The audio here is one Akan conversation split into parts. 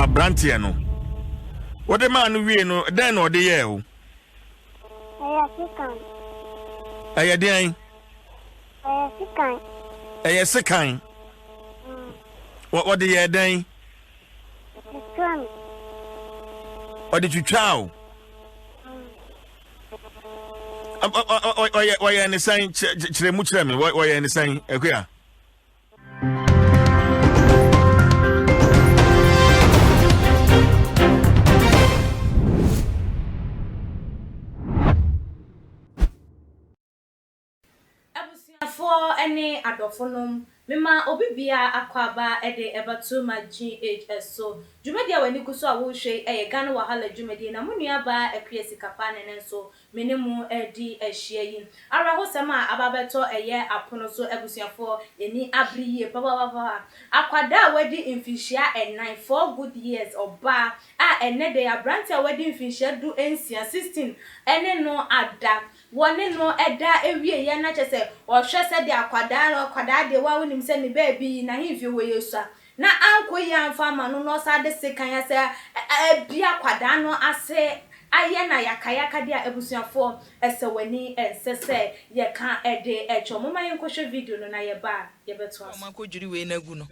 aberanteɛ no wode maa no wie no dɛn na ɔde yɛɛ o ɛyɛ sekan ɛyɛ deɛn ɛyɛ sekan ɛyɛ sekan mm. wɔde yɛɛ dɛn ɔde twitwaa o ɔyɛ ne sɛn kyerɛ mu kyerɛ me ɔyɛ ne sɛn akua Abusuafoɔ ne adɔfonom, mema obi biara akwaaba de ɛba Too Much GHS so. Dwumadie a w'ani gu so a worehwɛ yi yɛ Ghana Wahala dwumadie na mo nuabaa Akuya Sikapa ne no nso Me ne mo redi ahyia yi. Awerɛhosɛm a aba abɛtɔ ɛyɛ apono so abusuafoɔ, ani abere yie papapapa. Akwadaa a wadi mfinhyia ɛnan, four good years, ɔbaa, a ɛnnɛ da yi aberanteɛ a wadi mfinhyia du nsia, sixteen, ne no ada. Wɔne no da awieeɛ na kyerɛ sɛ ɔhwɛ sɛdeɛ akwadaa no, akwadaa deɛ wo ara wonim sɛ ne baabi yi n'ahemfie hɔ yɛ sua, na ankɔ yie amfa ama no na ɔsan de sekan a sɛ ɛbi akwadaa no ase ayɛ no ayakayaka deɛ a, abusuafoɔ ɛsɛ w'ani ɛnsɛ sɛ yɛka ɛde ɛkyɛ Momma yɛnkɔhwɛ video no na yɛba a yɛbɛtoa so.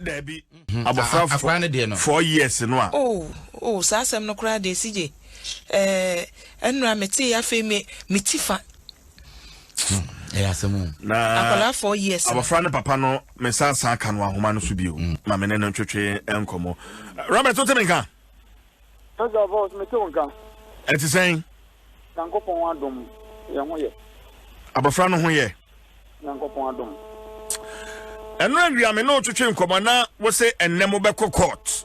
Daabi, abɔfra four years no a. Oh oh saa asɛm no koraa deɛ CJ ɛɛ ɛnora metee afei me me ti fa. na abɔfra no papa no mesan saa ka no ahoma no so bio mm. ma me ne no ntwetwe nkɔmmɔ robert wote me nka ɛte sɛn abɔfra no ho yɛ ɛno awia me ne wotwetwe nkɔmmɔ na wo se ɛnnɛ mobɛkɔ court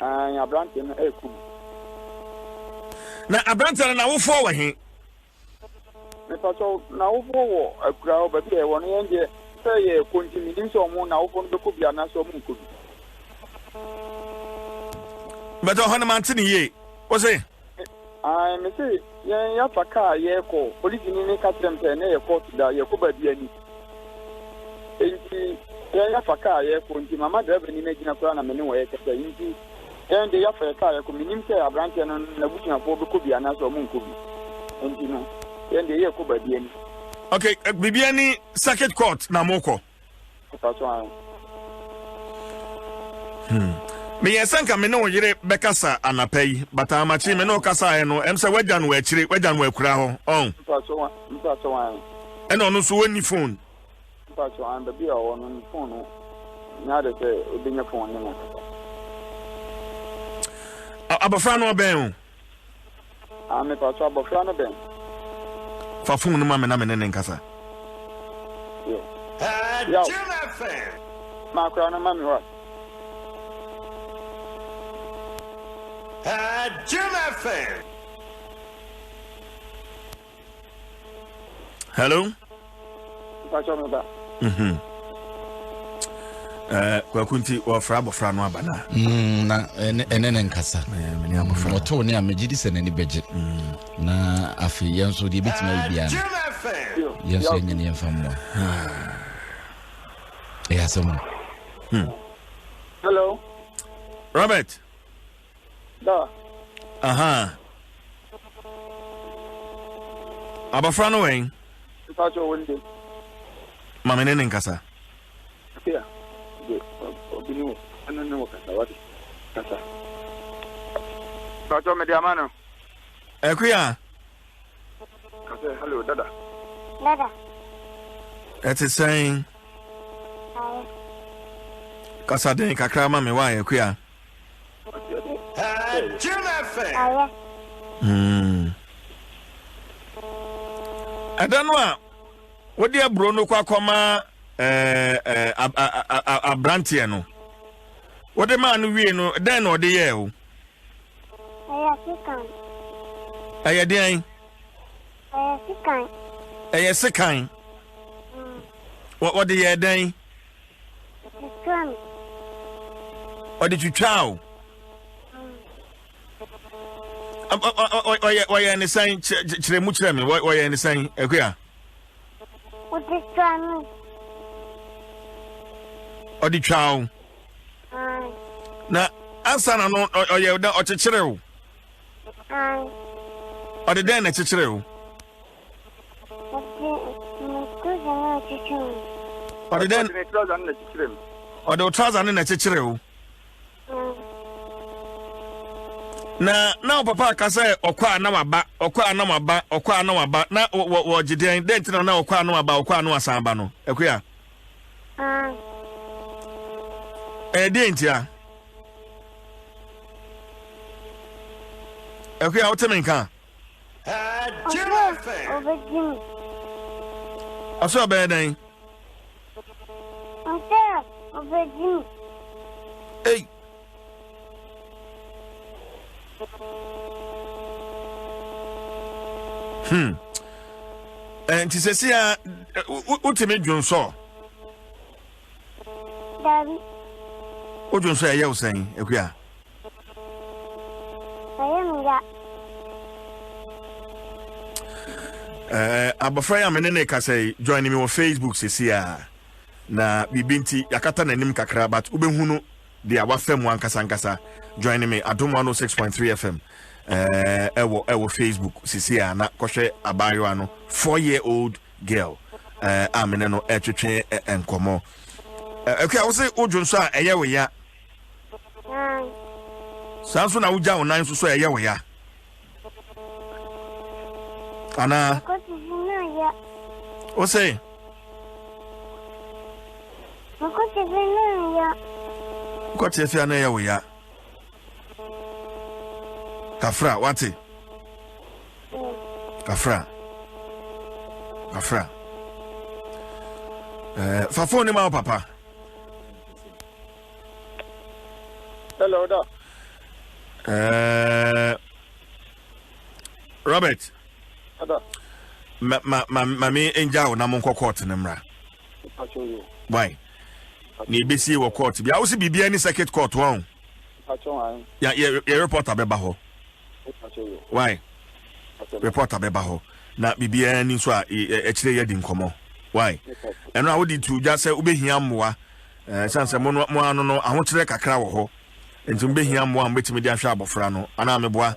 Aane, aberanteɛ no ɛɛku me. Na aberanteɛ no n'awofoɔ wɔ he? Mepakyɛw, n'awofoɔ wɔ akuraa hɔ, baabi a yɛwɔ no, yɛn deɛ sɛ yɛɛkɔ nti mennim sɛ wɔn n'awofoɔ no bɛkɔ bi anaasɛ wɔn nkɔ bi. But ɔhɔ no mante no yie. Wo se? Ae mese yɛn yɛafa car yɛɛkɔ polisini no ka kyerɛ me sɛ na ɛyɛ court da yɛɛkɔ baabi ani nti yɛn yɛafa car yɛɛkɔ nti mama driver ni no agyina koraa na me ne wɔn ɛɛkasa nti yɛn de yɛafa yɛ car yɛɛkɔ menim sɛ abranteɛ no n'abusuafoɔ bɛkɔ bi anaasɛ ɔmo nkɔ bi nti no yɛn de yɛɛkɔ baabi ani. Okay, biribi ani circuit court na mokɔ. Papa so an. Hmm. Meyɛ sɛ nka me ne wo yere bɛkasa anapa yi, but amakye me ne wo kasaeɛ no, ɛm sɛ wagya no akyire, wagya no akura hɔ. Ɔn. Mpa so an. Mpa so an. Ɛna ɔno nso wɔnni phone. Mpa so an. Baabi a ɔwɔ no ne phone no nyɛ ade sɛ ɔbɛnya phone ne nakasa. Abɔfra no ɔbɛn o. Ah, mepatɔ abɔfra no bɛn? Fa fon no ma me na me ne no nkasa. Yo. Yaw. Ma akora no ma me wa. Jim FM. hello mpakyɛ mo da mhm. eh, kwaku nti wɔfra abɔfra no aba no a mm, na ɛne ne nkasa eh, ɔtoo ne a megye di sɛ n'ani bɛgye mm. na afei yɛn nso deɛ ɛbɛtumi ayɛ biara no yɛn nso yɛnyɛ ne yɛmfa mmoa ɛyɛ asɛm no hmm. hello robert Dɔ. Ahaa. Abɔfra no wɛn. Mpa kyɛ wɔn de. Maame ne ne nkasa. Tia. De obi ne wo ɛno ne wo kasa wate. Kasa. Pàtó mede ama no. Akuya. Kasa hello dada. Dada. Ɛte sɛn. Kasa den kakra ma me wa akuya. Ɛda no a wode aburo no kɔ akɔma aberanteɛ no wode maa no wie no dɛn na ɔde yɛɛ o ɛyɛ deɛn ɛyɛ sekan wɔde yɛɛ dɛn Ɛtwitwaa me. Ɔde twitwaa o. Ɔyɛ ne sɛn kyerɛ mu kyerɛ me ɔyɛ ne sɛn akuya. Ɔde twaa me. Ɔde twaa o. Na ansa na no ɔyɛ dɛ ɔkyekyere o. Ɔde dɛn na ɛkyekyere o. Ɔde ne trouser no na ɛkyekyere wo. Ɔde dɛn? Ɔde ne trouser no na ɛkyekyere me. Ɔde wo trouser no na ɛkyekyere wo. na na wo papa aka sɛ ɔkɔ a na waba ɔkɔ a na waba ɔkɔ a na waba na wɔgye dɛn dɛn nti na na ɔkɔ a na waba ɔkɔ a na wasan aba no akuya ah. ɛyɛ dɛn nti a akuya wote me nka Ɔse ɔbɛgye me. Ɔse ɔbɛyɛ dɛn? Ɔse ɔbɛgye me. Ei. Hmm. Eh, nti sɛsi a wotumi dwonsɔ? Dabi. Wodwonsɔ ɛyɛ wo sɛn akua? Ɛyɛ me ya. Ɛɛ abɔfra yi a me ne ne kasa yi join me wɔ Facebook sisi a na biribi nti yakata n'anim kakra but wobɛhunu deɛ wafa mu ankasa ankasa join me adom 106.3 fm ɛɛ ɛwɔ ɛwɔ Facebook sisi a na kɔhwɛ abaayewa no four year old girl ɛɛ a me ne no ɛtwetwe nkɔmɔ ɛɛ ɛkua wo se wodwo nso a ɛyɛ wo ya. saa nso na wogya wo nan nso so a ɛyɛ wo ya anaa wo sɛ kɔteɛ fia na ɛyɛ wo ya kafra wate kafra kafra eh, fa fone ma wo papa Hello, da. Uh, Robert. Ada. Ma ma ma ma me angel na mo nkɔ court ne mra. Why? Na ebesi wɔ court. Bi a wosi biribi ani circuit court wɔn. Mpakyɛ wan. Ya yɛ yɛ reporter bɛba hɔ. Mpakyɛ yo. Wai. Mpakyɛ ma. Reporter bɛba hɔ na biribiara ni nso a ɛkyerɛ yɛ di nkɔmɔ. Wai. Ɛno a wodi tu gya sɛ wobɛhia mmoa. Ɛɛ san sɛ mo no mo ano no ahokyerɛ kakra wɔ hɔ. Nti mo bɛhia mmoa a mo bɛtumi de ahwɛ abɔfra no anaa meboa.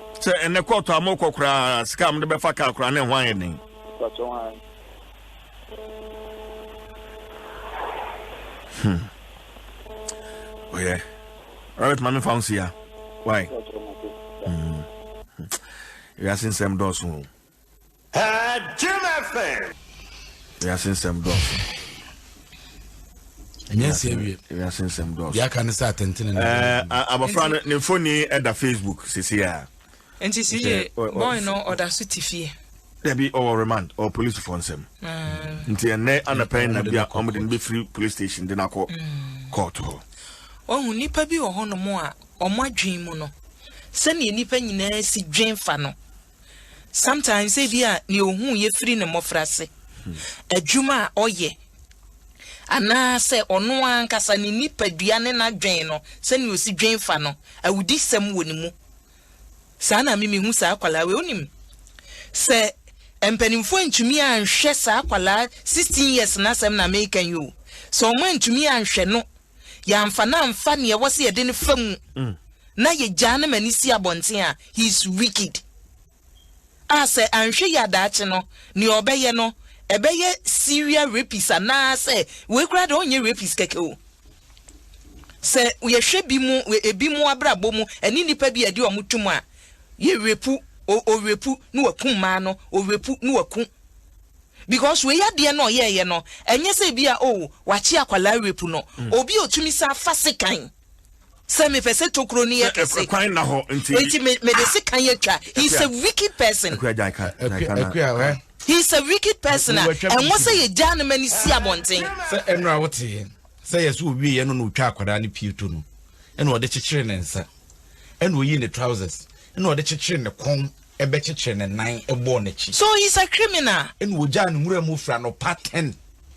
Sɛ ɛnɛ kɔɔto a mokɔ koraa sika a mode bɛfa kaa koraa ne ho ayɛ den. Hmm. Oh yeah. Robert Mami found here. Why? Hmm. Wiase nsɛm dɔɔso o. Ɛɛ Jim FM. Wiase nsɛm dɔɔso. Ɛnyɛ nsi awie. Wiase nsɛm dɔɔso. Deɛ aka ne sɛ atɛntene na. Ɛɛ abɔfra no ne mfoni ɛda Facebook sisi a. Nti si yie bɔɔl no ɔda so ti fie. Dabi ɔwɔ remand ɔwɔ polisifo nsɛm. Nti ɛnɛ anapɛn na bi a wɔn de no bɛfiri police station de no akɔ court hɔ. Wɔn nipa bi wɔ hɔnom a wɔn adwene mu no sɛnea nipa nyinaa si dwen fa no sometimes ebia nea ohuu yɛ firi ne mmɔfrase, adwuma a ɔyɛ, anaasɛ ɔno ankasa ne nipadua ne n'adwen no, sɛnea osi dwen fa no, awudisɛm wɔ ne mu. Saa na me mihu saa akwadaa wei. Wonim, sɛ mpanimfoɔ antumi anhwɛ saa akwadaa sixteen years no asɛm na meka yi o, sɛ wɔantumi anhwɛ no yɛamfa no amfa nea ɛwɔ sɛ yɛde no fa mu na yɛgyaa no ma ne si abɔnten a he is wicked a sɛ anhwɛ yɛ adaakye no nea ɔbɛyɛ no ɛbɛyɛ serial rapist anaasɛ wei koraa de ɔnyɛ rapist kɛkɛ o sɛ yɛhwɛ bi mu ebi mu abrabɔ mu ɛne nnipa bi a ɛde ɔmo tum a yɛrepu ɔrepu na waku mmaa no ɔrepu na waku because wei adeɛ na ɔyɛɛyɛ no ɛnyɛ sɛ ebi a oh wakye akwadaa rape no mm. obi a otumi sa afa sekan sɛ mepɛ sɛ tokuro no yɛ kɛse ɛkwan na hɔ nti nti mede sekan atwa he is a wicked person he is a wicked person a ɛwɔ sɛ yɛgyaa no ma no si abɔnten sɛ ɛno a woteɛ sɛ yɛ so ɔwieɛ no na ɔtwa akwadaa no pie to no ɛna ɔde kyekyere ne nsa ɛna ɔyi ne trousers ɛna ɔde kyekyere ne kɔn bɛkyekyere ne nan bɔɔ n'akyi. So he's a criminal? Ɛna ɔgyaa no nwura mu firi anɔpa ten.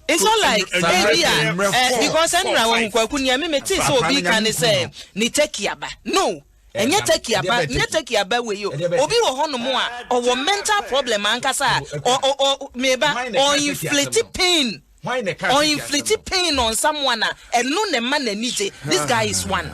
It's not like ebi a eh, because ɛnura wɔn ho kwaku nea mi mi ti sɛ obi ka ne sɛ ne turkey aba no ɛnyɛ turkey aba ɛnyɛ turkey aba wei o obi wɔ hɔnom a ɔwɔ mental problem ankasa a ɔ ɔ ɔ meba ɔ inflate pain. Ɔinfliti pain no nsa moa na ɛno na ɛma n'ani gye this guy is one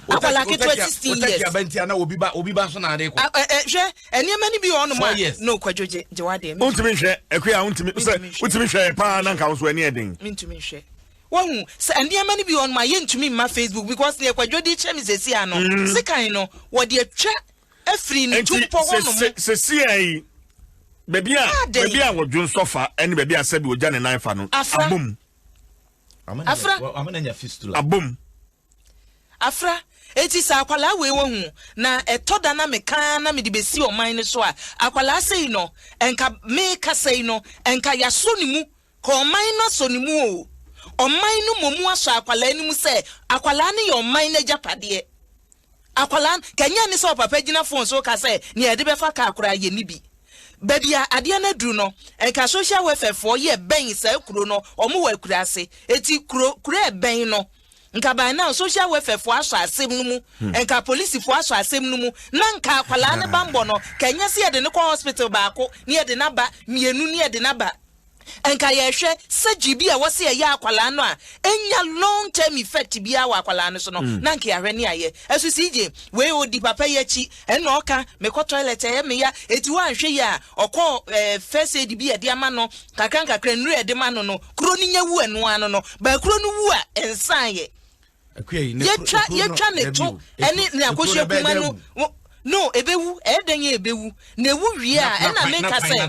akwadaa ketewa sixteen years. wotaki aba nti ana obi ba obi ba so na ade kɔ. ɛ ɛ hwɛ nneɛma ni bi wɔ ɔnom a no kwadwo gye gye wa deɛ. wontumi nhwɛ ɛkuya wontumi sɛ wotumi hwɛ yɛ paa na nka nso ɛni ɛden. mentumi nhwɛ wahu sɛ nneɛma no bi wɔ ɔnom a yɛntumi mma facebook because deɛ kwadwo de kyɛ me sɛsi ano mm. sekan no wɔde atwa afiri ne tumpɔ hɔ no mu. Nti sesia yi, baabi a baabi a wɔdwo nsɔfa ne baabi a sɛbi ogya ne nan fa no abom. Afra. Abom. Afra. Eti sɛ akwalaa wei wɔ hu na ɛtɔ da na mekaa na mede besi ɔman no so a akwalaa sɛ yi no nka meka sɛ yi no nka yasɔ ne mu Kɔ ɔman no asɔ no mu oo. Ɔman no mɔmu asɔ akwadaa no mu sɛ akwadaa no yɛ ɔman no agyapadeɛ. Akwadaa no, ka nyɛ ne sɛ ɔpapa gyina phone so reka sɛ nea yɛde bɛfa car koraa yɛnni bi. Baabi a adeɛ no aduru no, nka social welfare foɔ yɛ bɛn saa kuro no, wɔn wɔ Akurase. Enti kuro, kuro a ɛbɛn no, nka by now social welfare foɔ asɔ asɛm no mu, nka polisifoɔ asɔ asɛm no mu, na nka akwadaa no bammɔ no, ka nyɛ sɛ yɛde no kɔ hospital baako, na yɛde no aba mmienu, na yɛde no aba. Nka yɛhwɛ surgery bi a ɛwɔ sɛ yɛyɛ akwadaa no a ɛnya long term effect biara wɔ akwadaa no so no mm. na nka yɛahwɛ ne ayɛ ɛso si gye wei ɔdi papa yi akyi ɛna ɔka mekɔ toilet ɛyɛ meya ɛti hɔ anhwɛ yi a ɔkɔ eh, first aid bi ɛde ama no kakra nkakra nnuro ɛde ma no no kuro no nya wu ɛnoa no no baakuro no wu a ɛnsan yɛ yɛtwa yɛtwa ne to ɛne ne akosua kuma no no ebewu ɛyɛ dɛn yɛ ebewu na ewu wie a ɛna mi nka sɛ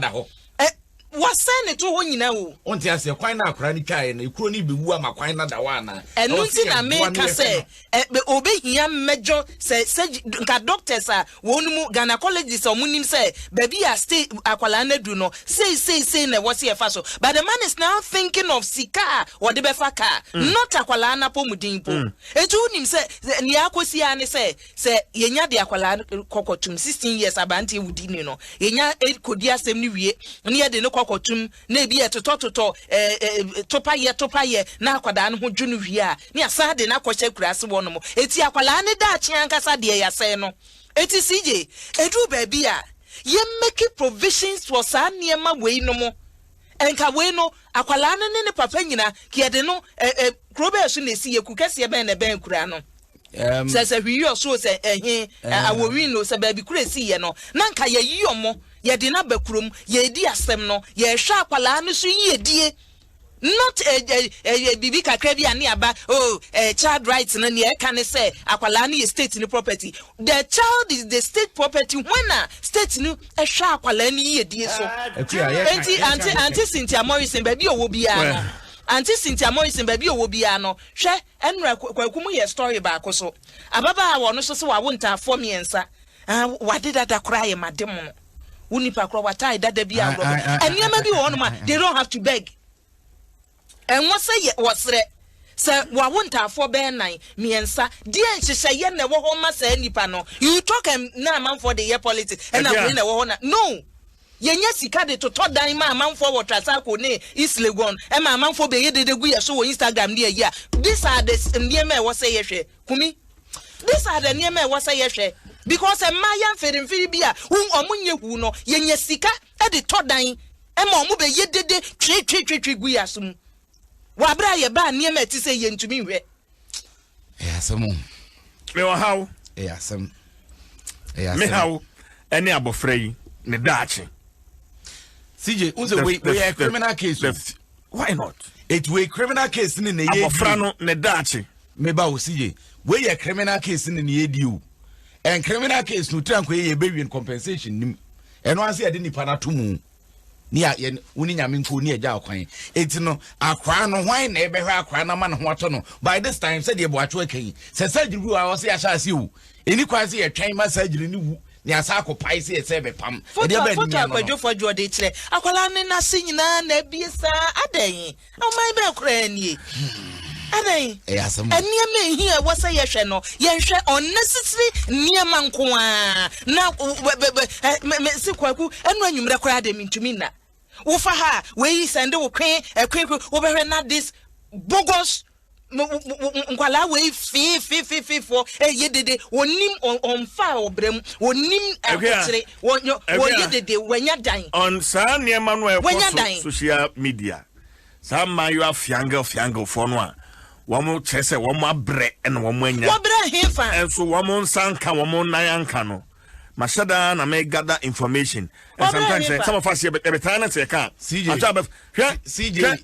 ɛ wɔsɛn ne to hɔ nyinaa o. o n ti ase kwan na akora ne twa yɛ na ekuro ne bewu ama kwan na da hɔ ana. ɛnu ti na mi nka sɛ ɛ obe hia mmɛdwo sɛ sɛ nka doctors a Wɔn mu gynecologists a wɔnim sɛ baabi a sta akwadaa no adu no sei sei sei na ɛwɔ sɛ yɛfa so but the man is now thinking of sika a wɔde bɛfa car not akwadaa no apɔmuden mpo. Enti wonim sɛ nea akɔsi ara ne sɛ sɛ yɛnya de akwadaa no kɔkɔtom sixteen years aberanteɛ wudi ni no yɛnya kɔdi asɛm no wie na yɛde no kɔkɔtom na ebi yɛ totɔtotɔ, topayɛtopayɛ, na akwadaa no ho dwo no wie a, na yɛasan de no akɔhyɛ akuraase hɔnom. Enti akwadaa no daakye ankasa deɛ yɛasɛe no. Enti CJ, ɛduru baabi a, yɛmmɛki provisions wɔ saa nneɛma wei no mo. Nka wei no, akwadaa no ne ne papa nyina, nka yɛde no, kuro bɛn so na ɛsi yɛ, kukɛseɛ bɛn na ɛbɛn akuraa no? Um, sɛ sɛ hwiyi ɔsoro sɛ ɛhe awɔwi no sɛ baabi kura esi yɛ no na nka yɛyi ɔmo yɛde no aba kurom yɛredi asɛm no yɛrehwɛ akwadaa no so yiedie not eh, eh, eh, biribi kakra bi a ne aba oh child rights no nea ɛka ne sɛ akwadaa no yɛ state no property the child is the state property when a state no ɛhwɛ akwadaa no yiedie so ah, nti ante ante cynthia morrison baabi a ɔwɔ biara no ante cynthia morrison baabi a ɔwɔ biara no hwɛ Ɛnora kwaku mo yɛ story baako so ababaa wɔ no so se wawo ntaafoɔ miensa ah wade dada koraa yɛ ma de mono wo nipa koraa watae dada bi a worɔbɛ ɛniɛma bi wɔ hɔ nom a they don't have to beg ɛnwo sɛ yɛ wɔ serɛ sɛ wawo ntaafoɔ bɛɛ nan miensa deɛ nhyehyɛ yɛ na ɛwɔ hɔ ma saa nipa no you talk and na amanfoɔ de yɛ politics ɛna wei na ɛwɔ hɔ na no. Yɛnya sika de totɔ dan ma amanfoɔ wɔ Trasacco ne East Legon, ɛma amanfoɔ bɛyɛ dede gu yɛn so wɔ Instagram ne ayi a, these are the nneɛma a ɛwɔ sɛ yɛhwɛ, Kumi, these are the nneɛma a ɛwɔ sɛ yɛhwɛ because mmayewa mfirimfiri bi a wɔn nyɛ huu no, yɛnya sika de tɔ dan ma wɔn bɛyɛ dede twetwetwetwe gu yɛn aso mu wɔ aberɛ a yɛbaa nneɛma a ɛte sɛ yɛntumi nhwɛ. ɛyɛ asɛm o. me wɔ haw. ɛyɛ asɛm ɛyɛ asɛm. me haw ɛne abɔfra yi ne daakye. cj n sɛ wei wei criminal case o. why not. etu wei criminal case ne na yɛ abɔfra no ne daakye. me ba o cj wei yɛ criminal case ne na yɛ di o ɛn criminal case no tiranko yɛ yɛ bɛ win compensation nim ɛno ase yɛ de nipa na to mu. ne a yɛn wo ne nyame nko ne agya ɔkwan enti no akora no hwan na ɛbɛhwɛ akora no ama ne ho atɔ no by this time sɛdeɛ boakye aka yi sɛ surgery wu a ɔsɛ yɛahyɛ ase o ɛni kwan sɛ yɛtwɛn ma surgery no wu ne asa akɔpae sɛ yɛsɛ bɛpam ɛdeɛ bɛɛ ne nyɛ no no foto akwadwofoɔ adwoɔde kyerɛ akwadaa ne n'ase nyinaa na abie saa adɛn Ɔman bɛn koraa nie? Adɛn? Nneɛma a ɛhia ɛwɔ sɛ yɛhwɛ no, yɛnhwɛ unnecessary nneɛma nko ara na mese kwaku ɛno anwummerɛ koraa deɛ mentumi nna wofa ha a wei sɛnde wo kwen ɛkwen kwen wobɛhwɛ na this bogus mo nkwadaa wei fiifiifiifoɔ ɛyɛ dede wɔnim ɔnfa ɔbrɛ mu wɔnim ahokyere wɔyɛ dede wɔanya dan. ɔn saa nneɛma no a ɛkɔ so social media saa mmaayewa fiangel fiangelfoɔ no a wɔn kyerɛ sɛ wɔn abrɛ na wɔn anya wɔbrɛ hefa nso wɔn nsa nka wɔn nan anka no mahyɛ daa na mɛ gather information and sometimes eh, some of us yɛ bɛ taa na sɛ ɛka atwa bɛ hwɛ hwɛ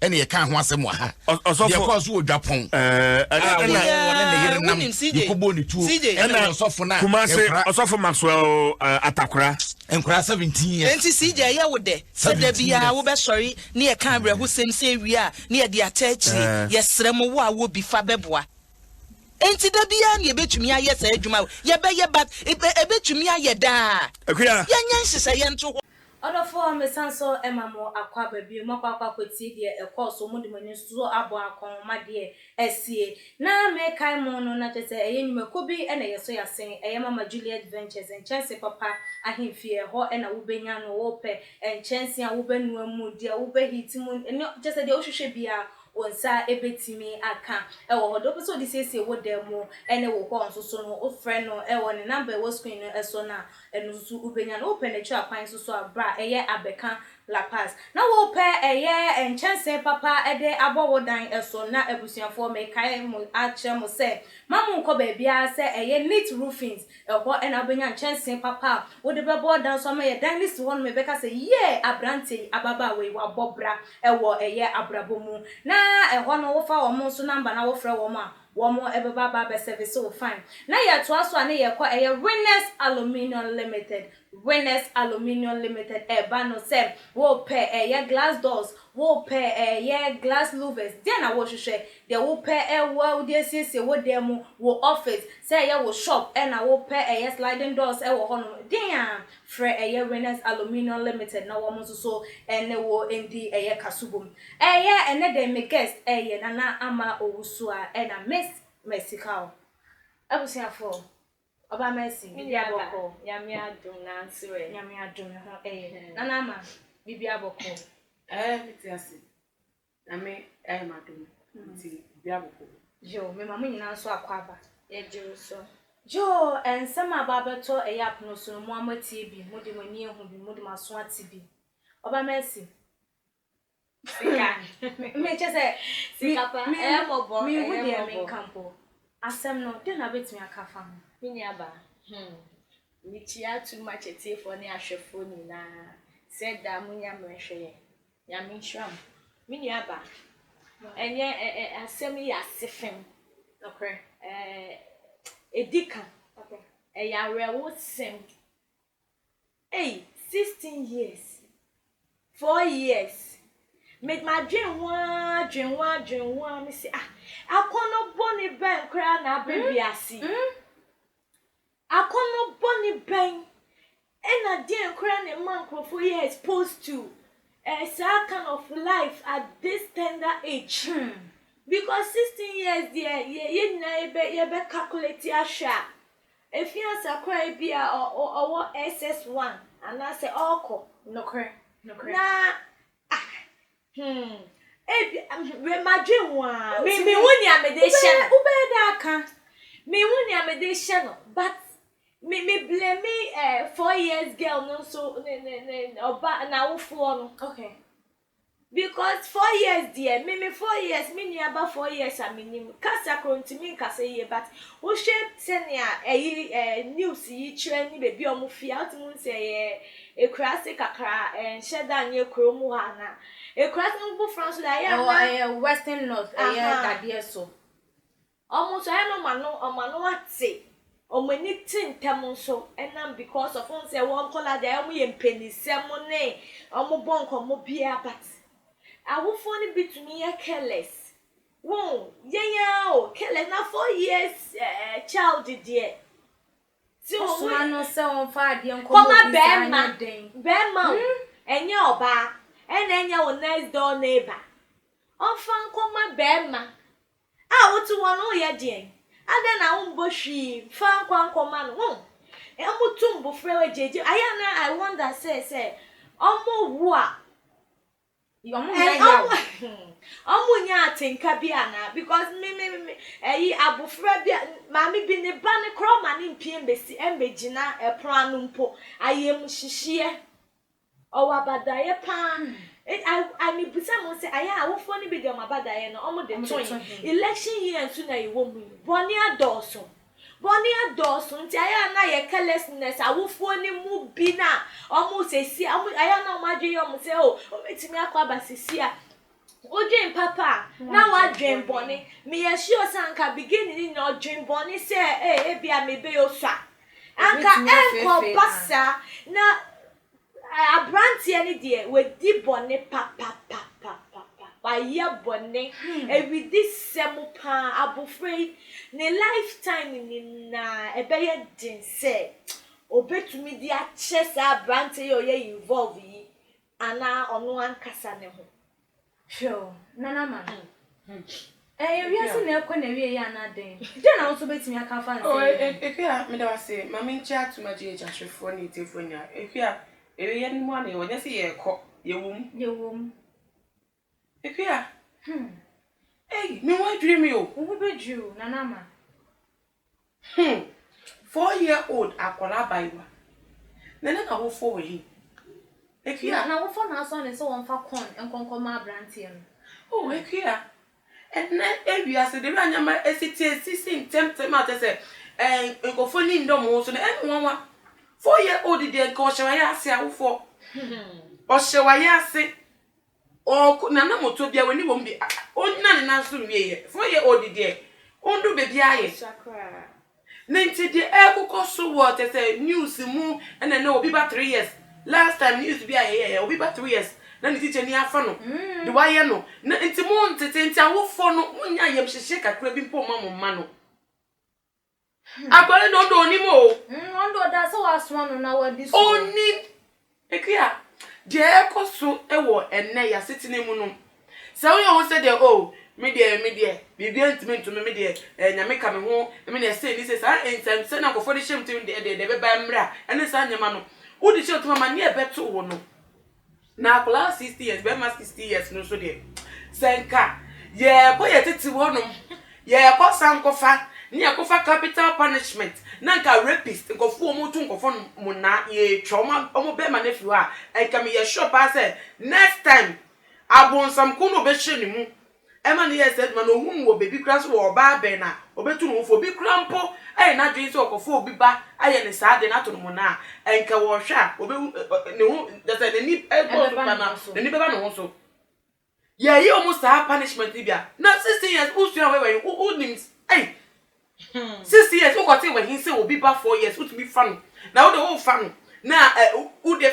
ɛna yɛka ho asɛm wɔ ha deɛ kɔɔ so wɔ dwapɔn yɛkɔbɔ ne tuo ɛna ɔsɔfo no kumase ɔsɔfo maxwell atakora nkora 17 ɛnti sɛ gya ɛyɛ wo dɛ sɛ da biaa wobɛsɔre ne yɛka awerɛho sɛm sɛ awie a ne yɛde ata akyiri yɛserɛ mo wo a wɔ bi fa bɛboa nti da biara na yɛbɛtumi ayɛ saa adwuma yɛbɛyɛ but ɛbɛtumi ayɛ daa yɛnyɛ nhyehyɛeɛ nto hɔ Ɔdɔfoɔ mesan so ma mo akɔ aba bio, moakɔ akɔ akɔtie deɛ ɛkɔɔ so, mode mo ani nso abɔ akɔn ma deɛ asie. Na mekae mo no, na kyerɛ sɛ ɛyɛ nnwumakuo bi na ɛyɛ so yɛasen, ɛyɛ Mama Juliet Ventures, nkyɛnse papa ahemfie, ɛhɔ na wobɛnya no, wopɛ nkyɛnse a wobɛnoa mu, deɛ wobɛ heat mu, ne kyerɛ sɛ deɛ wohwehwɛ biara wo nsa bɛtumi aka wɔ hɔ, deɛ wopɛ sɛ wode siesie wo dan mu ne wo hɔ nso so no, wofrɛ no wɔ ne number a ɛwɔ screen no so no a, Ɛno nso wobɛnya no. Wopɛ no akyiri akwan nso so a, bra ɛyɛ abɛka La Paz. Na wopɛ ɛyɛ nkyɛnsee papa de abɔ wo dan so. Na abusuafoɔ mekae mo akyerɛ mo sɛ mma monkɔ baabiara sɛ ɛyɛ Neat Roofings. Ɛhɔ na wobɛnya nkyɛnsee papa a wode bɛbɔ dan so ama yɛ dan no si hɔ nom ɛbɛka sɛ yee abranteɛ yi, ababaawa yi wabɔ bra wɔ ɛyɛ abrabɔ mu. Na ɛhɔ no wofa wɔn nso number na wofrɛ wɔn a Wɔn ɛbɛba aba abɛsɛvese wo fine. Na yɛtoa so a ne yɛkɔ ɛyɛ Winners Aluminium Limited, Winners Aluminium Limited ɛba no sɛ wopɛ ɛyɛ glass doors, wopɛ ɛyɛ glass louvers, deɛ na wohwehwɛ? Deɛ wopɛ ɛwɔ wode asiesie wo dan mu, wo office, sɛ ɛyɛ wo shop ɛna wopɛ ɛyɛ sliding doors ɛwɔ hɔnom den a, frɛ ɛyɛ Winners Aluminium Limited na wɔn nso so ne wo ndi ɛyɛ kasubom. Ɛyɛ ɛnɛ dɛn me guest ɛyɛ Nana Ama Owusu a ɛna Miss Mercy Kaur. Abusuafoɔ, Ɔbaa Mercy, biribi a bɔkɔ? Me nua ba, Nyame adom nanso ɛ? Nyame adom, me ho ɛyɛ. Nana Ama, biribi a bɔkɔ? Ɛɛ, me te ase. Nyame ayɛ me adom nti obi abobɔ me. Yoo mema mo nyinaa nso akwaaba. Yɛgye wo so. Yoo nsɛm a aba abɛtɔ ɛyɛ apono so no mo ara moatie bi, mode mo ani ahu bi, mode mo aso ate bi. Ɔba Mercy. Sika. Me kyɛ sɛ. Sika pa. Ɛyɛ mmɔbɔ. Ɛyɛ mmɔbɔ. Menhu deɛ menka mpo. Asɛm no, dɛn na wobɛtumi aka afa ho? Me nuabaa, hmm. Mekyia too much atiefoɔ ne ahwɛfoɔ nyinaa sɛ daa monya mmerɛ hwɛ yɛn. Nyame nhyira mo. Me nua ba, ɛnyɛ ɛ ɛ asɛm yi yɛ asefem. Nokorɛ. Ɛɛ edi ka. Ɛyɛ awerɛhow sɛm. Ei, sixteen years, four years, me madwen ho aa dwen ho aa dwen ho aa mese ah, akɔnnɔ bɔne bɛn koraa na aba wiase yi. Akɔnnɔ bɔne bɛn na deɛn koraa na ɛma nkorɔfoɔ yɛ exposed to eh, saa kind of life at this tender age? Hmm. Because sixteen years deɛ yɛ yɛn nyinaa yɛbɛ yɛbɛ calculate ahwɛ a, efi ansa koraa ebi a ɔ ɔ ɔwɔ SS one anaasɛ ɔrekɔ. Nokorɛ. Nokorɛ. Na ah, Hmm. Ebi, me, madwen ho a. Me, me hu nea me de hyɛ no. Wobɛyɛ dɛ aka. Me hu nea me de hyɛ no, but me, me blame eh, four years girl no nso, ne, ne, ne, ɔba, n'awofoɔ no. Okay. Because four years deɛ, me, me four years, me nua ba four years a me nim, kasa koro ntumi nkasa yie, but wohwɛ sɛnea ɛyi, eh, news yi kyerɛ ne baabi a wɔn fi a, wotumi hu sɛ ɛyɛ. Ekuraase kakra a, ɛnhyɛ da nyɛ kuro mu hɔ anaa? Ekuraase no foforɔ nso deɛ ayɛ a na. Ɛwɔ ɛyɛ western north ɛyɛ dadeɛ so. Wɔn nso ayɛ na wɔn ano wɔn ano ate, wɔn ani te ntɛm nso ɛnam because of wɔn sɛ wɔn nkwadaa deɛ ayɛ wɔn yɛ mpɛnisɛm ne wɔn bɔ nkɔmmɔ biara but awofoɔ no bi tumi yɛ careless wɔn yɛn ara o careless na four years ɛɛ child deɛ. Ɔsoma no sɛ ɔmfa adeɛ nkɔma obi saa nyɛ den. Kɔma bɛrima, bɛrima o, ɛnyɛ ɔbaa, ɛna ɛnyɛ wo next door neighbor. Ɔmfa nkɔma bɛrima a wote hɔ no woyɛ deɛn? Adɛn na wombɔ hwii mfa nkɔ ankɔma no? Wohu? Ɔmo tu mbofra wɔ gyegye, ayɛ a na I wonder sɛ sɛ ɔmo wo a Ɔmo nya atenka bi anaa because me me me ɛyi abofra bi a maame bi ne ba no koraa ɔma ne mpie mbesi mbegyina ɛpono ano mpo ayɛmuhyehyeɛ ɔwɔ abadaeɛ paa I mebisa mo sɛ ayɛ awofoɔ no bi deɛ ɔmo abadaeɛ no ɔmo de to he election year nso na yɛwɔ mu yi bɔne adɔɔso Bɔne adɔɔso nti ɛyɛ a na yɛ carelessness awofoɔ no mu bi no a wɔn sɛsi a wɔn ɛyɛ a na wɔn adwene yɛ wɔn sɛ o ɔbɛtumi akɔ aba sɛsi a wodwen papa a na wadwen bɔne meyɛ sure sɛ anka beginning no nyinaa ɔdwen bɔne sɛ ee ebi a mebɛyɛ osua anka ɛnkɔ ba saa na Abranteɛ no deɛ wadi bɔne papapapapapa wayɛ bɔne awidi sɛm paa abɔfra yi ne life time nyinaa ɛbɛyɛ den sɛ ɔbɛtumi de akyɛ saa abranteɛ yi a ɔyɛ involve yi anaa ɔno ankasa ne ho. Hwɛ o, Nana Mahɛn, ɛyɛ wiase na ɛrekɔ n'awieeɛ anaa dɛn? Dɛn na wo nso wobɛtumi aka afa nsɛm yi ho? Akua, meda wo ase. Ma menkyɛ atom agye agya hwɛfoɔ ne atiefoɔ nyinaa. Akua, awieeɛ no mu ara na yɛwɔ, nyɛ sɛ yɛrekɔ, yɛwɔ mu. Yɛwɔ mu. Akua, ei, me ho adwiri me o. Wo ho bɛdwiri wo, Nana Ama. Hmm four year old akwadaa abaayewa na ne n'awofoɔ wɔ he? Akua. Na n'awofoɔ na asɔ no sɛ ɔmfa corn nkɔ nkɔma aberanteɛ no. Oh Akua, ɛnnɛ wiase de wura nneɛma asi te asisi ntɛmtɛm a kyerɛ sɛ ɛɛ nkurɔfoɔ ani nnɔ wɔn ho so no ɛyɛ me nwanwa. Four year old deɛ nka ɔhyɛ w'ayɛ ase awofoɔ. Ɔhyɛ w'ayɛ ase. Ɔɔko na na motor biara nni wɔn mu bi a ɔnnyina ne nan so nwieɛ. Four year old deɛ, ɔndu baabi ara yɛ. Sua koraa. Ne nti deɛ ɛrekokɔ so wɔ kyɛ sɛ news mu ɛna ɛnɛ obi ba three years. Last time news bi a yɛyɛɛ obi ba three years na ne tikyani afa no de wayɛ no. Na nti montete nti awofoɔ no monyɛ ayamhyehyeɛ kakra bi mpo mma mo mma no. Hmm. Akwa no dodo onim o. Mm, on do da sɛ wasoma no na wadi so. Onim. Ekua. Deɛ ɛkɔ so wɔ ɛnnɛ yasetena mu no. Sɛ woyɛ ho sɛ deɛ o, oh, me deɛ me deɛ biribi ntumi ntumi me deɛ eh, nyame ka me ho me deɛ sei ne sei saa nsɛnsɛ na nkurɔfoɔ de hyɛm tim deɛ deɛ deɛ bɛba mmra ɛne saa nneɛma no wode hyɛ ɔtoma ma ne ɛbɛto wo no Na akwadaa sixty years, bɛrima sixty years no nso deɛ, sɛ nka yɛkɔ yɛ tete hɔ nom, yɛkɔ sankɔfa, ne yɛkɔfa capital punishment, na nka rapist, nkɔfo wɔn moto nkɔfo nom monaa, yɛtwa wɔn, wɔn bɛrima no afiri hɔ a, nka meyɛ sure paa sɛ, next time, abonsamko no ɔbɛhyɛ ne mu, Ɛma no yɛɛ saa adwuma no, ohuu wɔ baabi koraa sɛ ɔwɔ ɔbaa bɛn a obetu ne ho fo. Obi koraa mpo ayɛ n'adwene sɛ ɔkɔfa obi ba ayɛ no saa ade no ato no mmonnaa a, ɛnka ɔrehwɛ a, obehu ne ho, kyerɛ sɛ n'ani bɔ so paa no, n'ani bɛba ne ho so. Yɛyɛ wɔn saa punishment no bi a, na sixteen years wosua wɔ wɔ he? Wonim, ei, sixteen years wokɔte wɔ he sɛ obi ba four years wotumi fa no, na wo de worefa no, na wo de.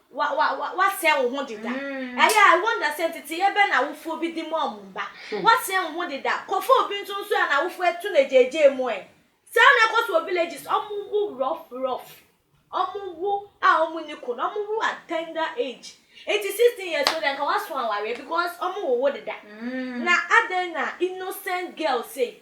Wa, wa, wa, wasɛe wo ho deda. Ɛyɛ a, I wonder sɛ nteteyɛ bɛn na awofoɔ bi di ma wɔn mma. Wasɛe wo ho deda. Kɔfa obi nso nso a n'awofoɔ atu no agyaagyaa mu ɛ. Saa na ɛkɔ so wɔ villages, wɔwo rough, rough. Wɔwo a wɔn nni ko, na wɔwo at tender age. Enti 16 years no deɛ anka waso awareɛ because wɔwowo deda. Na adɛn na innocent girl sei,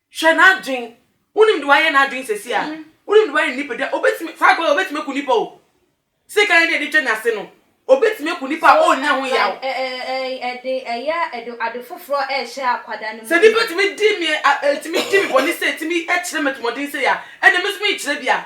Hwɛ n'adwen. Wonim de wayɛ n'adwen sɛsi a. Wonim de wayɛ ne nipa dua. Obetumi, saa akwa yi obetumi aku nipa o. Sika yɛ ne yɛde twa n'ase no. Obetumi aku nipa a ɔnnya ho yaw. So ɛ ɛ ɛ ɛde ɛyɛ ɛde ade foforɔ ɛrehyɛ akwadaa no mu. Sɛ nipa tumi di me a, tumi di me bɔne sei, tumi kyerɛ me atirimuɔden sei a, ɛnna me nso mekyerɛ bi a.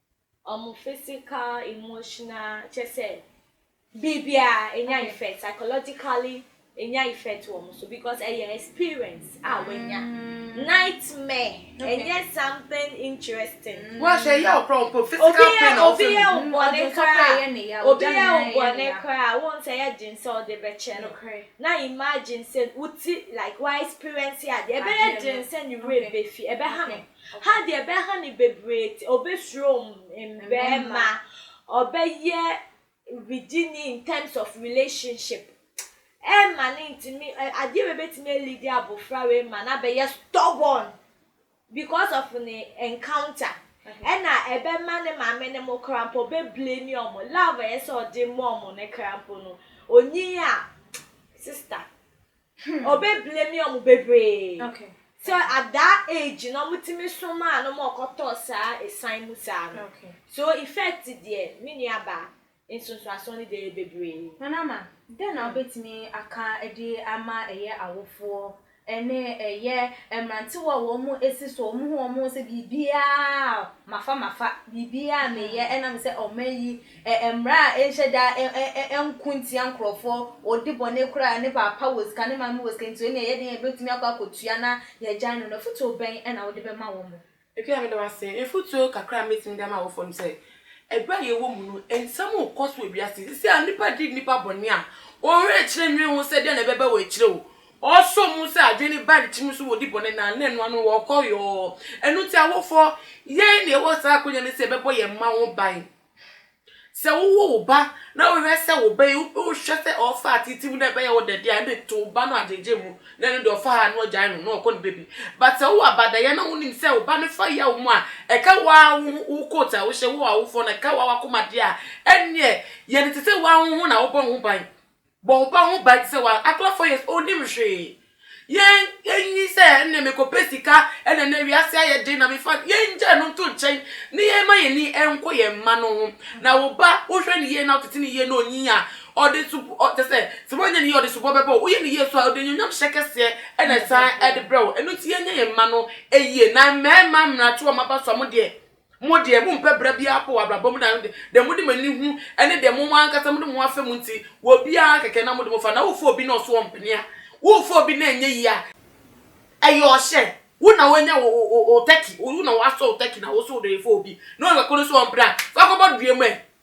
Ɔmo physical, emotional, kyerɛ sɛ biribiara enya effect, psychologically enya effect wɔ ɔmo so because ɛyɛ experience a wanya. Nightmare ɛnyɛ something interesting. Obi yɛ obi yɛ wo bɔne koraa, obi yɛ wo bɔne koraa a, wohu sɛ ɛyɛ den sɛ wode bɛkyɛ no. Now imagine sɛ wo ti like wa experience adeɛ, ɛbɛyɛ den sɛ ne werɛ befi, ɛbɛha no. Ha deɛ bɛha no bebree nti ɔbɛsuro mmarima, ɔbɛyɛ wigyeni in terms of relationship. Ɛmma no ntumi, adeɛ wei bɛtumi alidi abɔfra wei ma no abɛyɛ stubborn because of ne encounter. Ɛna ɛbɛma ne maame ne mo koraa mpo ɔbɛblame wɔn. Love a ɛyɛ sɛ ɔde ma wɔn no koraa mpo no, onyin a sister. Hmm. Obe blame ɔmo bebree. Okay. So at that age no ɔmo tumi somaa no ma ɔkɔtɔɔ saa esan mu saa no. Okay. So effect deɛ me nua baa nsonsoasoɔ no deɛ yɛ bebree. Nana ma, dɛn na wobɛtumi aka de ama ɛyɛ awofoɔ ɛne ɛyɛ mmerantewa a wɔn mu esi so wɔn ho wɔn ho sɛ biribiara mafa mafa biribiara meyɛ ɛnam sɛ ɔma yi Ɛ mmara a ɛnhyɛ da ɛ ɛ ɛ ɛnko ntia nkurɔfoɔ, ɔdi bɔne koraa a ne paapa wɔ sika, ne maame wɔ sika nti ɔnni a yɛdeɛ yɛbɛtumi akɔ akɔtua na yɛagyae no no, afotuo bɛn na wode bɛma wɔn? Akua, meda wo ase. Afotuo kakra a mɛtumi de ama awofoɔ no sɛ, ɛberɛ a yɛwɔ mu no, nsɛm rekɔ so wɔ wiase yi. Seesei a nnipa di nnipa bɔne a, wɔn werɛ rekyerɛ nnwene ho sɛ deɛn na ɛbɛba wɔ akyire o. Wɔsɔ mu sɛ adwene no ba akyire no so wɔdi bɔne na na ɛno ano no wɔkɔ yɔɔ. Ɛno nti awofoɔ, yɛn na yɛwɔ saa akwanya no sɛ yɛbɛbɔ yɛn mma ho ban. Sɛ wowo wo ba na wohwɛ sɛ wo ba yi wohwɛ sɛ ɔfa atete mu na ɛbɛyɛ wo dɛ deɛ ɛne to wo ba no agyegye mu na ɛno deɛ ɔfa ha na ɔgyae no na ɔkɔ ne baabi but sɛ wowɔ abadayɛ na wonim sɛ wo ba no fa yaw mu a ɛka waa wo ho wo coat a wohyɛ wo awofoɔ no ɛka waa wakomadeɛ a ɛneɛ yɛ no te sɛ waa wo ho na wobɔ wo ho ban Bɔ wo ba ho ban te sɛ woa, akora four years ɔnnim hwee. Yɛn nyi sɛ ɛnneɛ mekɔpɛ sika na nnɛ wiase ayɛ den na mefa, yɛngyae no nto nkyɛn na yɛmma yɛn ani nkɔ yɛn mma no ho. Na wo ba wohwɛ no yie na wotete no yie na ɔnyin a, ɔde sob, ɔ, kyerɛ sɛ, sɛ woanyɛ no yie a ɔde sobɔ bɛbɔ wo. Woyɛ no yie so a, ɔde anuonyamhyɛ kɛseɛ na ɛsan de brɛ wo. Ɛno nti yɛnyɛ yɛn mma no yie. Na mmarima mmra to wɔn aba so a, mo deɛ Mo deɛ, mompɛ bra biara mpo wɔ abrabɔ mu, na deɛ mode mo ani hu ne deɛ mo ankasa mode mo ho afa mu nti, wɔ obiara kɛkɛ na mode mo fa. Na wofa obi na ɔso ɔmpene a, wofa obi na ɛnyɛ yie a, ɛyɛ ɔhyɛ. Wo na woanya wo wo wo turkey, wo na woasɔ wo turkey na wo nso wode refa obi na ɔno kɔkɔ no nso ɔmpene a, fa kɔbɔ dua mu ɛ!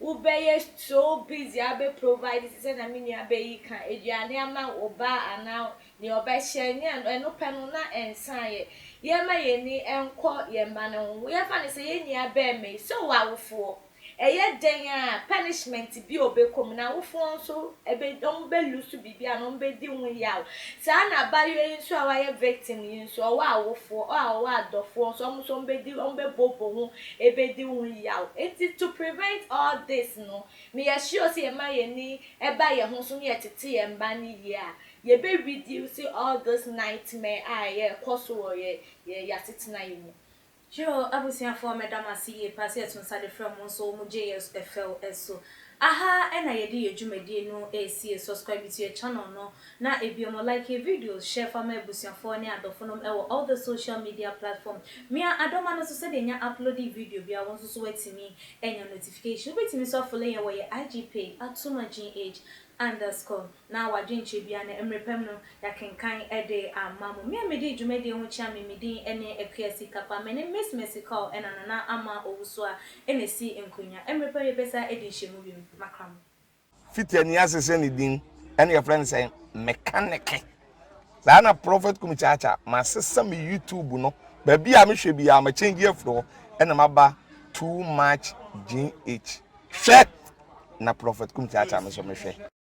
Wo bɛ yɛ so busy a bɛ provide te sɛ na me nua bɛ yi ka aduane ama wo ba anaa nea ɔbɛ hyɛ nyɛ no ɛno pɛ no na ɛnsa yɛ. Yɛ ma yɛn ani nkɔ yɛn ba no ho. Yɛ fa no sɛ yɛn nua bɛɛma yi sɛ ɔwɔ awofoɔ. Ɛyɛ dɛn a punishment bi a ɔbɛ kɔ mu na awofoɔ nso ɛbɛ ɔmo bɛ loose biribi anaa ɔmo bɛ di ho yaw. Saa na abayewa yi nso a wayɛ victim yi nso ɔwɔ awofoɔ ɔ a ɔwɔ adɔfoɔ nso ɔmo nso ɔmo bɛ di ɔmo bɛ bɔ bɔ ho Ebedi wo yaw. Enti to prevent all this no, ma yɛ sure sɛ yɛma yɛn ani ba yɛn ho so na yɛtete yɛn mma no yie a, yɛbɛ reduce all this nightmare a ɛrekɔ so wɔ yɛn yɛn asetena yi mu. Yoo abusuafoɔ meda mo ase yie paa sɛ yɛto nsa de frɛ mo nso mo gye yɛ fɛw so Aha na yɛde yɛ dwumadie no resie, subscribe to yɛ channel no na biom like yɛ videos, share fa ma abusuafoɔ ne adɔfonom wɔ all the social media platform. Mia Adoma no nso sɛdeɛ yɛnya uploadi video biara wo nso so watumi anya notification. Wobɛtumi nso afolo yɛn wɔ yɛ IG page, Atuma GH underscore. na w'adwenkyerɛ biara no, mmerɛ pa mu no, yɛakenkan de ama mo. Me a medii dwumadie ho kyea me, me din ne Akua Sikapa. Me ne Miss Mercy Cole ɛna Nana Ama Owusu a ɛna ɛsi nkonnwa. Mmerɛ pa mu yɛbɛsan adi nhyiamu bio. Makra mo. Fiti ani ase sɛ ne din ɛna yɛfrɛ no sɛn? Mekaneke. Saa na Prophet Kumi Kyakya, masesa me YouTube no, baabi a mehwɛ biara, ma change afiri hɔ ɛna maba Too Much GH. Hwɛ! Na Prophet Kumi Kyakya me nso mehwɛ.